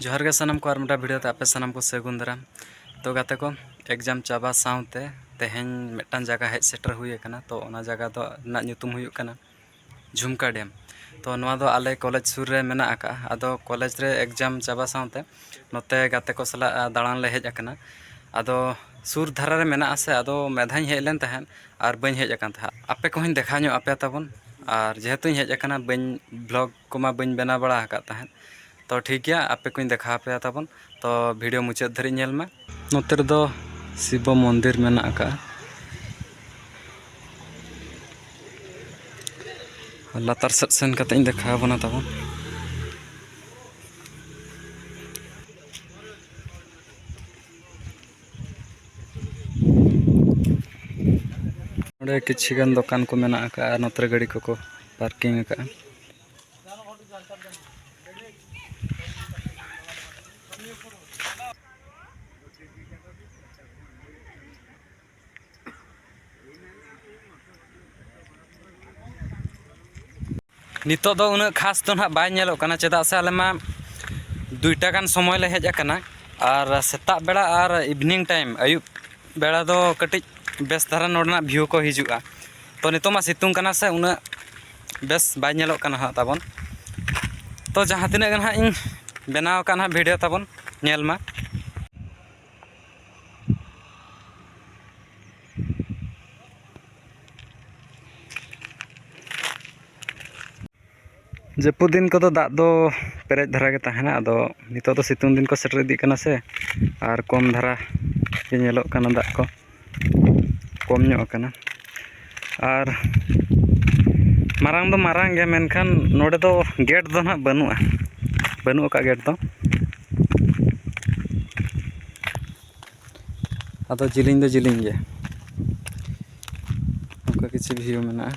ᱡᱚᱦᱟᱨ ᱜᱮ ᱥᱟᱱᱟᱢ ᱠᱚ ᱟᱨ ᱢᱤᱫᱴᱟᱝ ᱵᱷᱤᱰᱤᱭᱳ ᱛᱮ ᱟᱯᱮ ᱥᱟᱱᱟᱢ ᱠᱚ ᱥᱟᱹᱜᱩᱱ ᱫᱟᱨᱟᱢ ᱛᱚ ᱜᱟᱛᱮ ᱠᱚ ᱮᱠᱡᱟᱢ ᱪᱟᱵᱟ ᱥᱟᱶᱛᱮ ᱛᱮᱦᱮᱧ ᱢᱤᱫᱴᱟᱝ ᱡᱟᱭᱜᱟ ᱦᱮᱡ ᱥᱮᱴᱮᱨ ᱦᱩᱭ ᱟᱠᱟᱱᱟ ᱛᱚ ᱚᱱᱟ ᱡᱟᱭᱜᱟ ᱫᱚ ᱨᱮᱱᱟᱜ ᱧᱩᱛᱩᱢ ᱦᱩᱭᱩᱜ ᱠᱟᱱᱟ ᱡᱷᱩᱢᱠᱟ ᱰᱮᱢ ᱛᱚ ᱱᱚᱣᱟ ᱫᱚ ᱟᱞᱮ ᱠᱚᱞᱮᱡᱽ ᱥᱩᱨ ᱨᱮ ᱢᱮᱱᱟᱜ ᱟᱠᱟᱫᱼᱟ ᱟᱫᱚ ᱠᱚᱞᱮᱡᱽ ᱨᱮ ᱮᱠᱡᱟᱢ ᱪᱟᱵᱟ ᱥᱟᱶᱛᱮ ᱱᱚᱛᱮ ᱜᱟᱛᱮ ᱠᱚ ᱥᱟᱞᱟᱜ ᱫᱟᱬᱟᱱ ᱞᱮ ᱦᱮᱡ ᱟᱠᱟᱱᱟ ᱟᱫᱚ ᱥᱩᱨ ᱫᱷᱟᱨᱟ ᱨᱮ ᱢᱮᱱᱟᱜ ᱟᱥᱮ ᱟᱫᱚ ᱢᱤᱫ ᱫᱷᱟᱣ ᱤᱧ ᱦᱮᱡ ᱞᱮᱱ ᱛᱟᱦᱮᱸᱫ ᱟᱨ ᱵᱟᱹᱧ ᱦᱮᱡ ᱟᱠᱟᱱ ᱛᱟᱦᱮᱸᱫ ᱟᱯᱮ ᱠᱚᱦᱚᱧ ᱫᱮᱠᱷᱟᱣ ᱧᱚᱜ ᱟᱯᱮᱭᱟ ᱛᱟᱵᱚᱱ ᱟᱨ ᱡᱮᱦᱮᱛᱩᱧ ᱦᱮᱡ ᱟᱠᱟᱱᱟ ᱵᱟᱹᱧ ᱵᱷᱞᱚᱜᱽ ᱠᱚᱢᱟ ᱵᱟᱹᱧ ᱵᱮᱱᱟᱣ ᱵᱟᱲᱟ ᱟᱠᱟᱫ ᱛᱟᱦᱮᱸᱫ ᱛᱚ ᱴᱷᱤᱠ ᱜᱮᱭᱟ ᱟᱯᱮ ᱠᱚᱧ ᱫᱮᱠᱷᱟᱣ ᱟᱯᱮᱭᱟ ᱛᱟᱵᱚᱱ ᱛᱚ ᱵᱷᱤᱰᱤᱭᱳ ᱢᱩᱪᱟᱹᱫ ᱫᱷᱟᱹᱨᱤᱡ ᱧᱮᱞ ᱢᱮ ᱱᱚᱛᱮ ᱨᱮᱫᱚ ᱥᱤᱵᱚ ᱢᱚᱱᱫᱤᱨ ᱢᱮᱱᱟᱜ ᱟᱠᱟᱫᱼᱟ ᱞᱟᱛᱟᱨ ᱥᱮᱫ ᱥᱮᱱ ᱠᱟᱛᱮ ᱤᱧ ᱫᱮᱠᱷᱟᱣ ᱟᱵᱚᱱᱟ ᱛᱟᱵᱚᱱ ᱱᱚᱰᱮ ᱠᱤᱪᱷᱤ ᱜᱟᱱ ᱫᱚᱠᱟᱱ ᱠᱚ ᱢᱮᱱᱟᱜ ᱟᱠᱟᱫᱼᱟ ᱟᱨ ᱱᱚᱛᱮ ᱨᱮ ᱜᱟᱹᱰᱤ ᱠᱚᱠᱚ ᱯᱟᱨᱠᱤᱝ ᱟᱠᱟᱫᱼᱟ ᱱᱤᱛᱚᱜ ᱫᱚ ᱩᱱᱟᱹᱜ ᱠᱷᱟᱥ ᱫᱚ ᱱᱟᱦᱟᱜ ᱵᱟᱭ ᱧᱮᱞᱚᱜ ᱠᱟᱱᱟ ᱪᱮᱫᱟᱜ ᱥᱮ ᱟᱞᱮ ᱢᱟ ᱫᱩᱭᱴᱟ ᱜᱟᱱ ᱥᱚᱢᱚᱭ ᱞᱮ ᱦᱮᱡ ᱟᱠᱟᱱᱟ ᱟᱨ ᱥᱮᱛᱟᱜ ᱵᱮᱲᱟ ᱟᱨ ᱤᱵᱷᱤᱱᱤᱝ ᱴᱟᱭᱤᱢ ᱟᱹᱭᱩᱵ ᱵᱮᱲᱟ ᱫᱚ ᱠᱟᱹᱴᱤᱡ ᱵᱮᱥ ᱫᱷᱟᱨᱟ ᱱᱚᱰᱮᱱᱟᱜ ᱵᱷᱤᱭᱩ ᱠᱚ ᱦᱤᱡᱩᱜᱼᱟ ᱛᱚ ᱱᱤᱛᱚᱜ ᱢᱟ ᱥᱤᱛᱩᱝ ᱠᱟᱱᱟ ᱥᱮ ᱩᱱᱟᱹᱜ ᱵᱮᱥ ᱵᱟᱭ ᱧᱮᱞᱚᱜ ᱠᱟᱱᱟ ᱦᱟᱸᱜ ᱛᱟᱵᱚᱱ ᱛᱚ ᱡᱟᱦᱟᱸ ᱛᱤᱱᱟᱹᱜ ᱜᱮ ᱱᱟᱦᱟᱜ ᱤᱧ ᱵᱮᱱᱟᱣ ᱠᱟᱜ ᱱᱟᱦᱟᱜ ᱵᱷᱤᱰᱤᱭᱳ ᱛᱟᱵᱚᱱ ᱧᱮᱞ ᱢᱟ ᱡᱟᱹᱯᱩᱫ ᱫᱤᱱ ᱠᱚᱫᱚ ᱫᱟᱜ ᱫᱚ ᱯᱮᱨᱮᱡ ᱫᱷᱟᱨᱟ ᱜᱮ ᱛᱟᱦᱮᱱᱟ ᱟᱫᱚ ᱱᱤᱛᱚᱜ ᱫᱚ ᱥᱤᱛᱩᱝ ᱫᱤᱱ ᱠᱚ ᱥᱮᱴᱮᱨ ᱤᱫᱤᱜ ᱠᱟᱱᱟ ᱥᱮ ᱟᱨ ᱠᱚᱢ ᱫᱷᱟᱨᱟ ᱜᱮ ᱧᱮᱞᱚᱜ ᱠᱟᱱᱟ ᱫᱟᱜ ᱠᱚ ᱠᱚᱢ ᱧᱚᱜ ᱟᱠᱟᱱᱟ ᱟᱨ ᱢᱟᱨᱟᱝ ᱫᱚ ᱢᱟᱨᱟᱝ ᱜᱮᱭᱟ ᱢᱮᱱᱠᱷᱟᱱ ᱱᱚᱰᱮ ᱫᱚ ᱜᱮᱹᱴ ᱫᱚ ᱦᱟᱸᱜ ᱵᱟᱹᱱᱩᱜᱼᱟ ᱵᱟᱹᱱᱩᱜ ᱟᱠᱟᱫᱼᱟ ᱜᱮᱹᱴ ᱫᱚ ᱟᱫᱚ ᱡᱮᱞᱮᱧ ᱫᱚ ᱡᱮᱞᱮᱧ ᱜᱮᱭᱟ ᱚᱱᱠᱟ ᱠᱤᱪᱷᱩ ᱵᱷᱤᱭᱩ ᱢᱮᱱᱟᱜᱼᱟ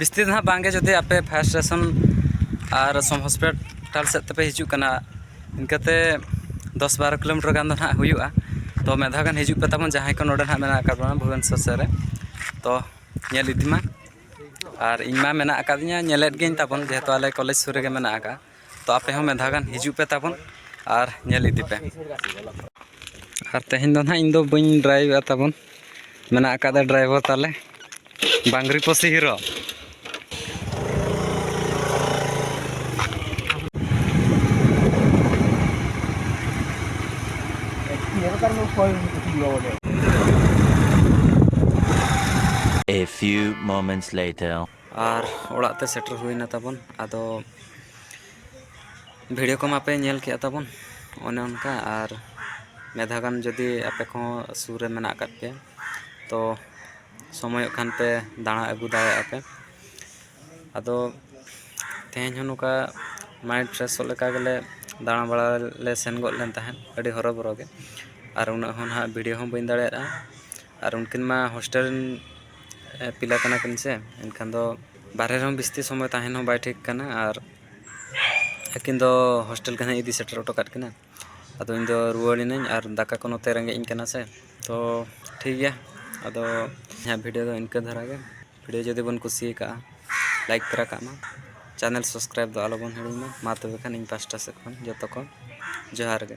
ᱵᱤᱥᱛᱤ ᱫᱚ ᱦᱟᱸᱜ ᱵᱟᱝᱜᱮ ᱡᱩᱫᱤ ᱟᱯᱮ ᱯᱷᱟᱭᱟᱨ ᱥᱴᱮᱥᱚᱱ ᱟᱨ ᱥᱚᱢ ᱦᱚᱥᱯᱤᱴᱟᱞ ᱥᱮᱫ ᱛᱮᱯᱮ ᱦᱤᱡᱩᱜ ᱠᱟᱱᱟ ᱤᱱᱠᱟᱹᱛᱮ ᱫᱚᱥ ᱵᱟᱨᱚ ᱠᱤᱞᱳᱢᱤᱴᱟᱨ ᱜᱟᱱ ᱫᱚ ᱦᱟᱸᱜ ᱦᱩᱭᱩᱜᱼᱟ ᱛᱚ ᱢᱤᱫ ᱫᱷᱟᱣ ᱜᱟᱱ ᱦᱤᱡᱩᱜ ᱯᱮ ᱛᱟᱵᱚᱱ ᱡᱟᱦᱟᱸᱭ ᱠᱚ ᱱᱚᱰᱮ ᱦᱟᱸᱜ ᱢᱮᱱᱟᱜ ᱟᱠᱟᱫ ᱵᱚᱱᱟ ᱵᱷᱩᱵᱮᱱᱮᱥᱚᱨ ᱥᱮᱫ ᱨᱮ ᱛᱚ ᱧᱮᱞ ᱤᱫᱤ ᱢᱟ ᱟᱨ ᱤᱧᱢᱟ ᱢᱮᱱᱟᱜ ᱟᱠᱟᱫᱤᱧᱟᱹ ᱧᱮᱞᱮᱫ ᱜᱤᱭᱟᱹᱧ ᱛᱟᱵᱚᱱ ᱡᱮᱦᱮᱛᱩ ᱟᱞᱮ ᱠᱚᱞᱮᱡᱽ ᱥᱩᱨ ᱨᱮᱜᱮ ᱢᱮᱱᱟᱜ ᱟᱠᱟᱫᱼᱟ ᱛᱚ ᱟᱯᱮ ᱦᱚᱸ ᱢᱤᱫ ᱫᱷᱟᱣ ᱜᱟᱱ ᱦᱤᱡᱩᱜ ᱯᱮ ᱛᱟᱵᱚᱱ ᱟᱨ ᱧᱮᱞ ᱤᱫᱤ ᱯᱮ ᱟᱨ ᱛᱮᱦᱮᱧ ᱫᱚ ᱱᱟᱦᱟᱜ ᱤᱧ ᱫᱚ ᱵᱟᱹᱧ ᱰᱨᱟᱭᱤᱵᱷᱮᱜᱼᱟ ᱛᱟᱵᱚᱱ ᱢᱮᱱᱟᱜ ᱟᱠᱟᱫᱟ ᱰᱨᱟᱭᱵᱷᱟᱨ ᱛᱟᱞᱮ ᱵᱟᱝᱨᱤ ᱯᱚᱥᱤ hero A few moments later. ᱟᱨ ᱚᱲᱟᱜ ᱛᱮ ᱥᱮᱴᱮᱨ ᱦᱩᱭᱱᱟ ᱛᱟᱵᱚᱱ ᱟᱫᱚ ᱵᱷᱤᱰᱤᱭᱳ ᱠᱚ ᱢᱟᱯᱮ ᱧᱮᱞ ᱠᱮᱜᱼᱟ ᱛᱟᱵᱚᱱ ᱚᱱᱮ ᱚᱱᱠᱟ ᱟᱨ ᱢᱤᱫ ᱫᱷᱟᱣ ᱜᱟᱱ ᱡᱩᱫᱤ ᱟᱯᱮ ᱠᱚᱦᱚᱸ ᱥᱩᱨ ᱨᱮ ᱢᱮᱱᱟᱜ ᱟᱠᱟᱫ ᱯᱮᱭᱟ ᱛᱚ ᱥᱚᱢᱚᱭᱚᱜ ᱠᱷᱟᱱ ᱯᱮ ᱫᱟᱬᱟ ᱟᱹᱜᱩ ᱫᱟᱲᱮᱭᱟᱜᱼᱟ ᱯᱮ ᱟᱫᱚ ᱛᱮᱦᱮᱧ ᱦᱚᱸ ᱱᱚᱝᱠᱟ ᱢᱟᱭᱤᱱᱰ ᱯᱷᱨᱮᱥᱚᱜ ᱞᱮᱠᱟ ᱜᱮᱞᱮ ᱫᱟᱬᱟ ᱵᱟᱲᱟ ᱞᱮ ᱥᱮᱱ ᱜᱚᱫ ᱞᱮᱱ ᱛᱟᱦᱮᱸᱫ ᱟᱹᱰᱤ ᱦᱚᱨᱚ ᱵᱚᱨᱚ ᱜᱮ ᱟᱨ ᱩᱱᱟᱹᱜ ᱦᱚᱸ ᱱᱟᱦᱟᱜ ᱵᱷᱤᱰᱤᱭᱳ ᱦᱚᱸ ᱵᱟᱹᱧ ᱫᱟᱲᱮᱭᱟᱫᱼᱟ ᱟᱨ ᱩᱱᱠᱤᱱ ᱢᱟ ᱦᱳᱥᱴᱮᱞ ᱨᱮᱱ ᱯᱤᱞᱟ ᱠᱟᱱᱟ ᱠᱤᱱ ᱥᱮ ᱮᱱᱠᱷᱟᱱ ᱫᱚ ᱵᱟᱦᱨᱮ ᱨᱮᱦᱚᱸ ᱵᱤᱥᱛᱤ ᱥᱚᱢᱚᱭ ᱛᱟᱦᱮᱱ ᱦᱚᱸ ᱵᱟᱭ ᱴᱷᱤᱠ ᱠᱟᱱᱟ ᱟᱨ ᱟᱹᱠᱤᱱ ᱫᱚ ᱦᱳᱥᱴᱮᱞ ᱜᱮ ᱦᱟᱸᱜ ᱤᱧ ᱤᱫᱤ ᱥᱮᱴᱮᱨ ᱦᱚᱴᱚ ᱠᱟᱜ ᱠᱤᱱᱟ ᱟᱫᱚ ᱤᱧᱫᱚ ᱨᱩᱣᱟᱹᱲ ᱮᱱᱟᱹᱧ ᱟᱨ ᱫᱟᱠᱟ ᱠᱚ ᱱᱚᱛᱮ ᱨᱮᱸᱜᱮᱡ ᱤᱧ ᱠᱟᱱᱟ ᱥᱮ ᱛᱚ ᱴᱷᱤᱠ ᱜᱮᱭᱟ ᱟᱫᱚ ᱤᱧᱟᱹᱜ ᱵᱷᱤᱰᱭᱳ ᱫᱚ ᱤᱱᱠᱟᱹ ᱫᱷᱟᱨᱟ ᱜᱮ ᱵᱷᱤᱰᱭᱳ ᱡᱩᱫᱤ ᱵᱚᱱ ᱠᱩᱥᱤ ᱠᱟᱜᱼᱟ ᱞᱟᱭᱤᱠ ᱛᱚᱨᱟ ᱠᱟᱜ ᱢᱟ ᱪᱮᱱᱮᱞ ᱥᱟᱵᱥᱠᱨᱟᱭᱤᱵᱽ ᱫᱚ ᱟᱞᱚ ᱵᱚᱱ ᱦᱤᱲᱤᱧ ᱢᱟ ᱢᱟ ᱛᱚᱵᱮ ᱠᱷᱟᱱ ᱤᱧ ᱯᱟᱥᱴᱟ ᱥᱮᱫ ᱠᱷᱚᱱ ᱡᱚᱛᱚ ᱠᱚ ᱡᱚᱦᱟᱨ ᱜᱮ